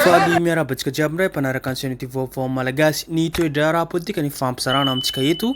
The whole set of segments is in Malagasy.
Faly miarahaba antsika jiaby indray mpanaraka ny chaîne youtube vaovao malagasy. Ny toe-draharaha politika ny fampizarana amintsika eto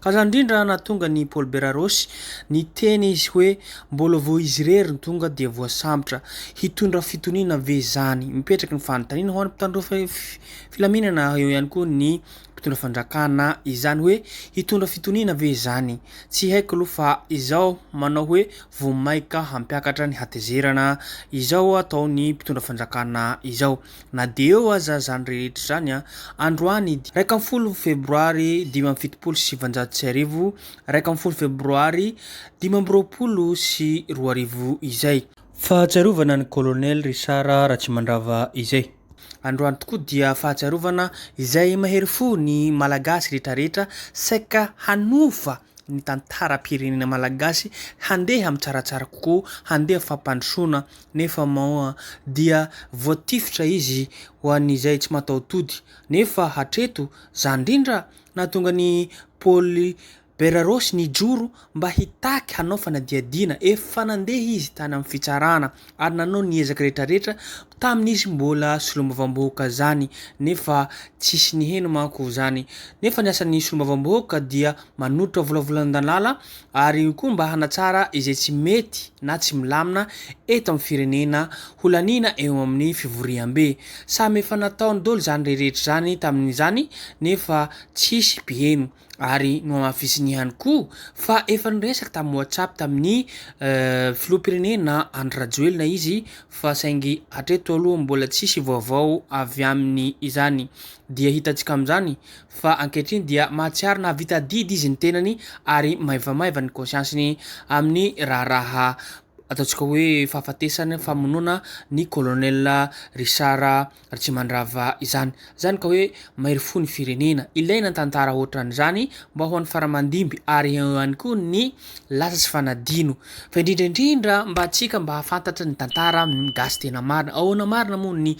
Ka izany indrindra nahatonga an'i Paolo Berarosy niteny izy hoe mbola vao izy irery no tonga dia voasambotra. Hitondra fitoniana ve izany? Mipetraka ny fanontaniana ho an'ny mpitandro filaminana eo ihany koa ny mpitondra fanjakana izany hoe hitondra fitoniana ve izany? Tsy haiko aloha fa izao manao hoe vao maika hampiakatra ny hatezerana izao atao ny mpitondra fanjakana izao. Na dia eo aza izany rehetra izany, androany iraika ambin'ny folo Febroary dimy amby fitopolo sy sivinjato sy arivo, iraika ambin'ny folo Febroary dimy amby roapolo sy roa arivo izay. Fahatsiarovana ny Colonel Richard Ratsimandrava izay. Androany tokoa dia fahatsiarovana izay mahery fo ny Malagasy rehetrarehetra saika hanova ny tantaram-pirenena malagasy handeha mitsaratsara kokoa, handeha fampandrosoana nefa moa dia voatifitra izy ho an'izay tsy mataho-tody. Nefa hatreto, zany indrindra nahatonga an'i Paoly Berarôsy nijoro mba hitaky hanao fanadihadiana. Efa nandeha izy tany amin'ny fitsarana. ary nanao ny ezaka rehetrarehetra tamin'izy mbola solombavambahoaka zany nefa tsisy niheno manko zany nefa ny asan'ny solombavambahoaka dia manotra volavolan-dalala ary koa mba hanatsara izay tsy mety na tsy milamina eto amin'ny firenena holaniana eo amin'ny fivoriambe samy efa nataony dolo zany reherehetra zany tamin'izany nefa tsisy mpiheno ary nohamafisiny ihany koa fa efa niresaka tamin'ny WhatsApp tamin'ny filoham-pirenena Andry Rajoelina izy fa saingy hatreto aloha mbola tsisy vaovao avy aminy izany dia hitantsika amin'izany fa ankehitriny dia mahatsiaro nahavita adidy izy ny tenany ary maivamaiva ny kônsiansiny amin'ny raharaha ataontsika hoe fahafatesana famonoana ny kolonela Richard Ary tsy mandrava izany. Izany ka hoe mairy fo ny firenena. Ilaina ny tantara hoatran'izany mba ho an'ny faramandimby ary eo ihany koa ny lasa sy fanadino. Fa indrindra indrindra mba antsika mba hahafantatra ny tantara gasy tena marina. Ahoana marina moa ny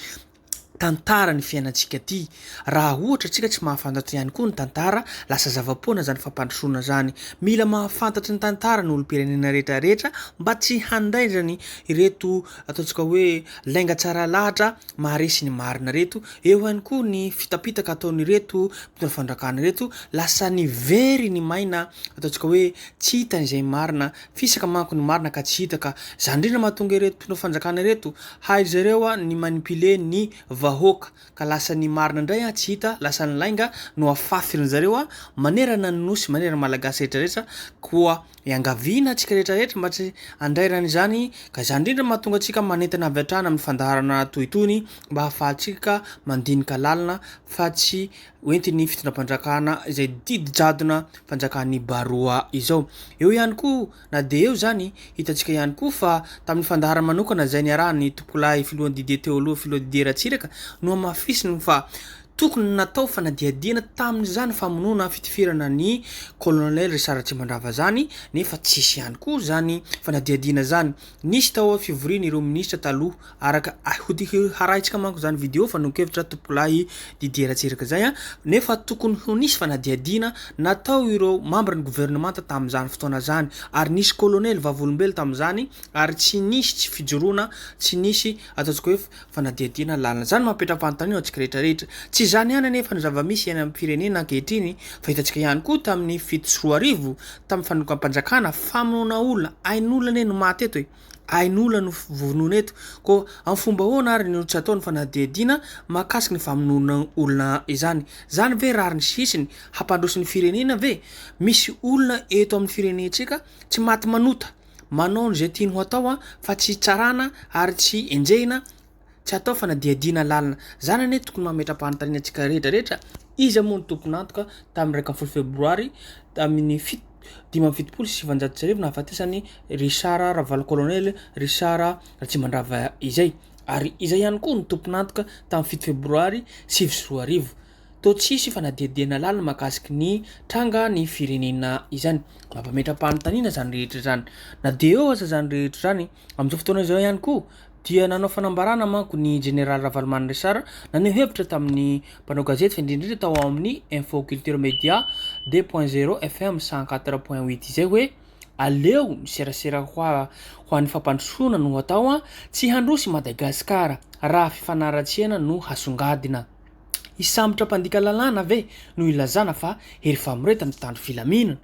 tantara ny fiainantsika ty? Raha ohatra antsika tsy mahafantatra ihany koa ny tantara, lasa zava-poana izany fampandrosoana izany. Mila mahafantatra ny tantara ny olom-pirenena rehetra rehetra mba tsy handaindrany ireto ataontsika hoe. Lainga tsara lahatra maharesy ny marina reto, eo ihany koa ny fitapitaka ataon'ireto mpitondra fandrakana ireto, lasa ny very ny maina ataontsika hoe tsy hitany izay marina, fisaka manko ny marina ka tsy hita ka zany indrindra mahatonga ireto mpitondra fanjakana ireto haindry zareo ny manipule ny vahoaka ka lasa ny marina indray tsy hita lasa ny lainga no afafy ry zareo manerana ny nosy manerana ny malagasy rehetra rehetra koa Iangaviana antsika rehetra rehetra mba tsy handrarana izany ka izany indrindra no mahatonga antsika manentana avy hatrany amin'ny fandaharana toy itony mba hahafahantsika mandinika lalina fa tsy ho entin'ny fitondram-panjakana izay didy jadona fanjakan'ny baroa izao. Eo ihany koa na dia eo izany, hitantsika ihany koa fa tamin'ny fandaharana manokana izay niarahan'ny tompokolahy filohan'ny didier teo aloha filoha Didier Ratsiraka no hamafisiny fa Tokony natao fanadihadiana tamin'izany famonoana fitiferana ny colonel Richard Ratsimandrava zany nefa tsisy ihany koa zany fanadihadiana zany nisy tao a fivorian ireo ministra taloha araka a hoharahitsika manko zany video fanehonkevitra tompokolahy Didier Ratsiraka zay a nefa tokony ho nisy fanadihadiana natao ireo mambra ny governemanta tamin'izany fotoana zany ary nisy colonel vavolombelo tamin'izany ary tsy nisy tsy fijoroana tsy nisy ataontsika hoe fanadihadiana ny lalana. Izany no mametra-panontaniana ho antsika rehetrarehetra. Tsy izany ihany anefa no zava-misy iainana amin'ny firenena ankehitriny fa hitantsika ihany koa tamin'ny fito sy roa arivo tamin'ny fanonganam-panjakana, famonoana olona, ain'olona anie no maty eto e! ain'olona no vonoina eto, koa amin'ny fomba ahoana ary no tsy atao ny fanadihadiana mahakasika ny famonoana olona izany? Izany ve rariny sy hisiny? Hampandroso ny firenena ve? Misy olona eto amin'ny firenentsika tsy maty manota? Manao izay tiany ho atao fa tsy tsarana ary tsy enjehina, tsy atao fanadihadiana lalina. Izany anie tokony mametra-panontaniana antsika rehetra rehetra, iza moa no tompon'antoka tamin'ny iraika ambin'ny folo febroary tamin'ny fito, dimy amby fitopolo sy sivanjato sy arivo nahafatesan'i Richard Ravalo Colonel Richard Ratsimandrava izay? Ary iza ihany koa no tompon'antoka tamin'ny fito febroary sivy sy roa arivo? Toa tsy hisy fanadihadiana lalina mahakasiky ny tranga ny firenena izany. Mampametra-panontaniana izany rehetra izany. Na dia eo aza izany rehetra izany, amin'izao fotoana izao ihany koa dia nanao fanambarana manko ny Jeneraly Ravalomanana Richard naneho hevitra tamin'ny mpanao gazety fa indrindra indrindra tao amin'ny Info Culture Media deux point zero FM cent quatre point huit izay hoe aleo ny serasera ho an'ny fampandrosoana no atao an, tsy handroso i Madagasikara raha fifanaratsiana no hasongadina. Hisambotra mpandika lalàna ve no ilazana fa hery famoretana mpitandro filaminana?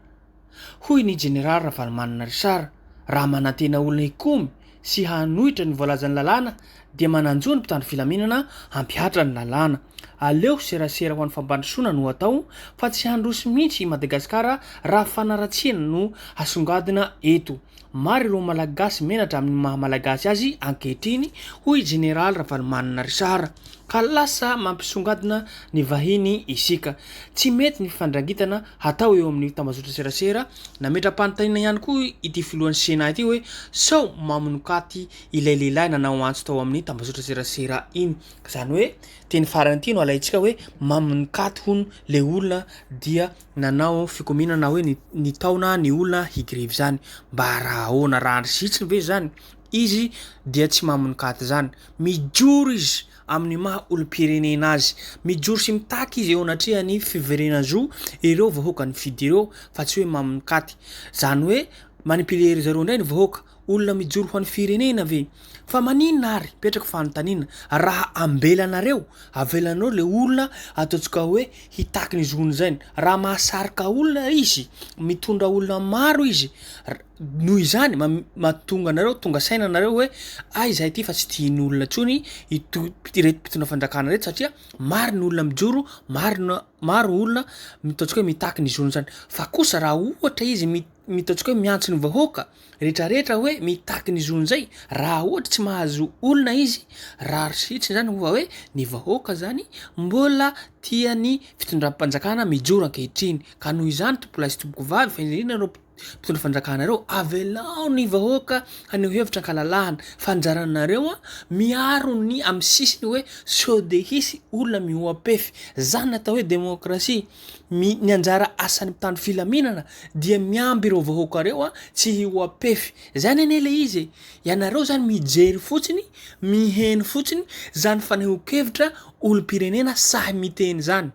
hoy ny Jeneraly Ravalomanana Richard, Raha manantena olona hikomy sy hanohitra ny voalazan'ny lalàna dia mananjo ny mpitandro filaminana hampihatra ny lalàna. Aleo serasera ho an'ny fampandrosoana no atao fa tsy handroso mihitsy i Madagasikara raha fanaratsiana no hasongadina eto. Maro ireo Malagasy menatra amin'ny maha Malagasy azy ankehitriny, hoy i Jeneraly Ravalomanana Richard, ka lasa mampisongadina ny vahiny isika. Tsy mety ny fifandrangitana hatao eo amin'ny tambazotran-tserasera. Nametra-panontaniana ihany koa ity filohan'ny Sénat ity hoe sao mamonokaty ilay lehilahy nanao antso tao amin'ny tambazotran-tserasera iny. Izany hoe teny farany ity no alaintsika hoe mamonokaty hono ilay olona dia nanao fikomiana na hoe nitaona ny olona higrevy izany mba raha ahoana raha andry zitsiny ve izany izy dia tsy mamonokaty izany mijoro izy amin'ny maha olom-pirenena azy mijoro sy mitaky izy eo anatrehan'ny fiverena zo ireo vahoaka ny fidy ireo fa tsy hoe mamonokaty izany hoe manipile ry zareo indray ny vahoaka olona mijoro ho an'ny firenena ve? Fa maninona ary? Mipetraka fanontaniana. Raha ambelanareo, avelanareo ilay olona ataontsika hoe hitaky ny zony izay. Raha mahasarika olona izy, mitondra olona maro izy, r- noho izany ma- mahatonga anareo tonga saina anareo hoe ay izahay ity fa tsy tian'ny olona intsony ito- ireto mpitondra fanjakana ireto satria maro ny olona mijoro, maro ny- maro ny olona ataontsika hoe mitaky ny zony izany. Fa kosa raha ohatra izy mi- ny ataontsika hoe miantso ny vahoaka rehetra rehetra hoe mitaky ny zony zay raha ohatra tsy mahazo olona izy raha risitriny zany hofa hoe ny vahoaka zany mbola tiany fitondram-panjakana mijoro ankehitriny ka noho izany tompola sy tompoko vavy fa indrindra ireo mpitondra fanjakana ireo avelao ny vahoaka haneho hevitra ankalalahana fanjaranareo a miaro ny amin'ny sisiny hoe sode hisy olona mihoa-pefy zany natao hoe demokrasia My ny anjara asan'ny mpitandro filaminana dia miamby ireo vahoaka ireo tsy hihoa-pefy. Zany anie le izy e! Ianareo zany mijery fotsiny, miheno fotsiny zany fanehoan-kevitra olom-pirenena sahy miteny zany.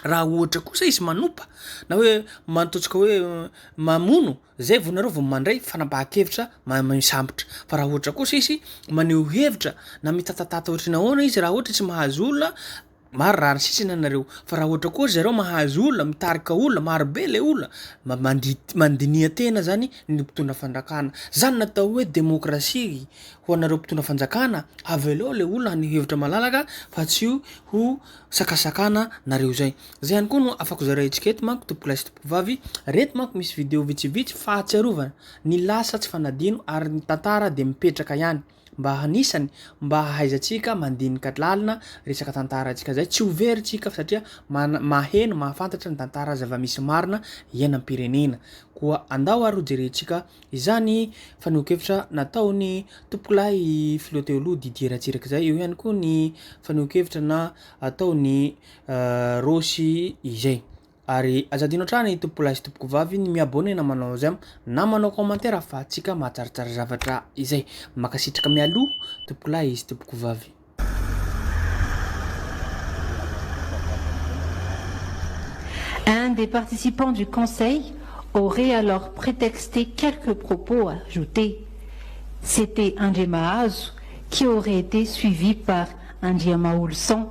Raha ohatra kosa izy manompa na hoe mantotsika hoe mamono, zay vao nareo vao mandray fanapahan-kevitra mamisambotra. Fa raha ohatra kosa izy maneho hevitra na mitatatata ohatry ny ahoana izy raha ohatra tsy mahazo olona, Maro rary sisiny anareo fa raha ohatra koa zareo mahazo olona mitarika olona maro be le olona mba mandidy mandiniha tena zany ny mpitondra fandrakana zany natao hoe demokrasia ho anareo mpitondra fanjakana avelao le olona ny hevitra malalaka fa tsy ho ho sakasakana nareo zay zay ihany koa no afako zaraintsika eto manko tompoko lahy sy tompoko vavy reto manko misy video vitsivitsy fahatsiarovana ny lasa tsy fanadino ary ny tantara de mipetraka ihany mba hanisany mba hahaizantsika mandinika lalina resaka tantara antsika zay tsy ho very tsika fa satria mana- maheno mahafantatra ny tantara zava-misy marina iainam-pirenena koa andao ary ho jerentsika izany fanehoan-kevitra nataon'ny tompokolahy filoha teo aloha Didier Ratsiraka izay eo ihany koa ny fanehoan-kevitra na ataon'ny eh, Rossy izay Ary aza adino hatrany tompokolahy sy tompokovavy ny mi-abonnena manao j'aime na manao commentaire fa antsika mahatsaratsara zavatra izay. Mankasitraka mialoha tompokolahy sy tompokovavy. Un des participants du conseil aurait alors pretexté quelques propos ajoutés, c'était Andriamahazo qui aurait été suivi par Andriamaholison.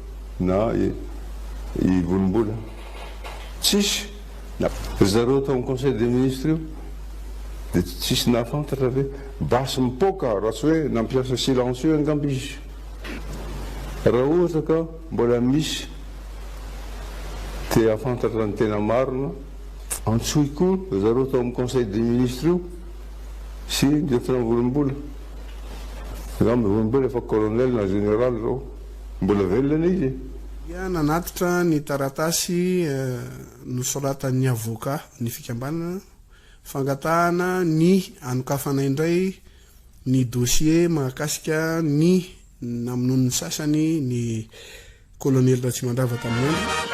Na i volombola tsisy na. Ry zareo tao am conseil des ministres io dia tsisy nahafantatra ve? Basy mipoaka raha tsy hoe nampiasa silencieux angamba izy. Raha ohatra ka mbola misy te hahafantatra ny tena marina, antsoy koa ry zareo tao am conseil des ministres io sy lieutenant volombola. Angamba volombola efa colonel na general zao. Mbola velona ilay izy e! Dia nanatitra ny taratasy nosoratan'ny avoka ny fikambanana, fangatahana ny hanokafana indray ny dosie mahakasika ny namonoan'ny sasany ny Kolonely Ratsimandrava tamin'ny andro.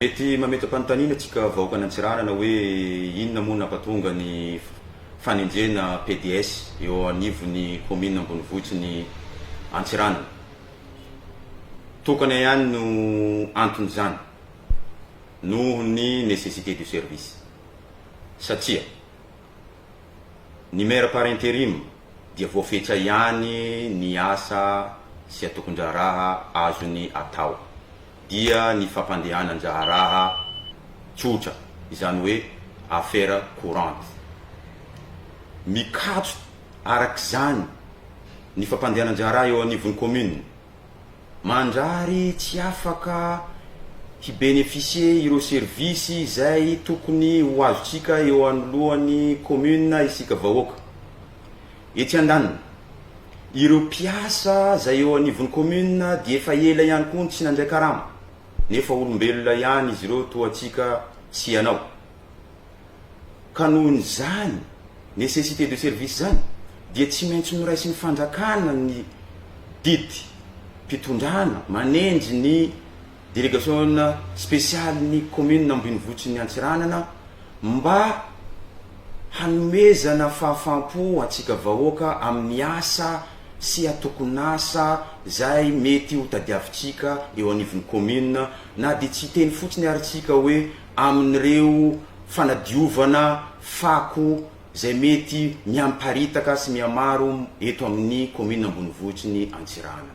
Mety mametra-panontaniana antsika vahoakan' Antsiranana hoe inona moa no nampatonga ny fanenjehana PDS eo anivon' ny kaominina ambonivohitry ny Antsiranana. Tokana ihany no anton' izany. noho ny nécessité du service satria ny maire par interim dia voafetra ihany ny asa sy atokondraharaha azony atao dia ny fampandehanan-draharaha tsotra izany hoe affaire courante. Mikatso arak'izany ny fampandehanan-draharaha eo anivon'ny commune Mandrary tsy afaka hi-beneficier ireo service izay tokony ho azontsika eo anoloan'ny commune isika vahoaka. Etsy andaniny, ireo mpiasa izay eo anivon'ny commune dia efa ela ihany koa no tsy nandray karama, nefa olombelona ihany izy ireo toa antsika sy ianao. Ka noho izany nécessité de service izany dia tsy maintsy noraisin'ny fanjakana ny didim-pitondrana manendry ny délégation spéciale-n'ny commune Ambinivotsin'ny Antsiranana mba hanomezana fahafaham-po antsika vahoaka amin'ny asa sy atokon'asa izay mety hotadiavintsika eo anivon'ny commune na dia tsy hiteny fotsiny ary tsika hoe amin'ireo fanadiovana fako izay mety mihamiparitaka sy mihamaro eto amin'ny kaominina ambonivohitry ny Antsiranana.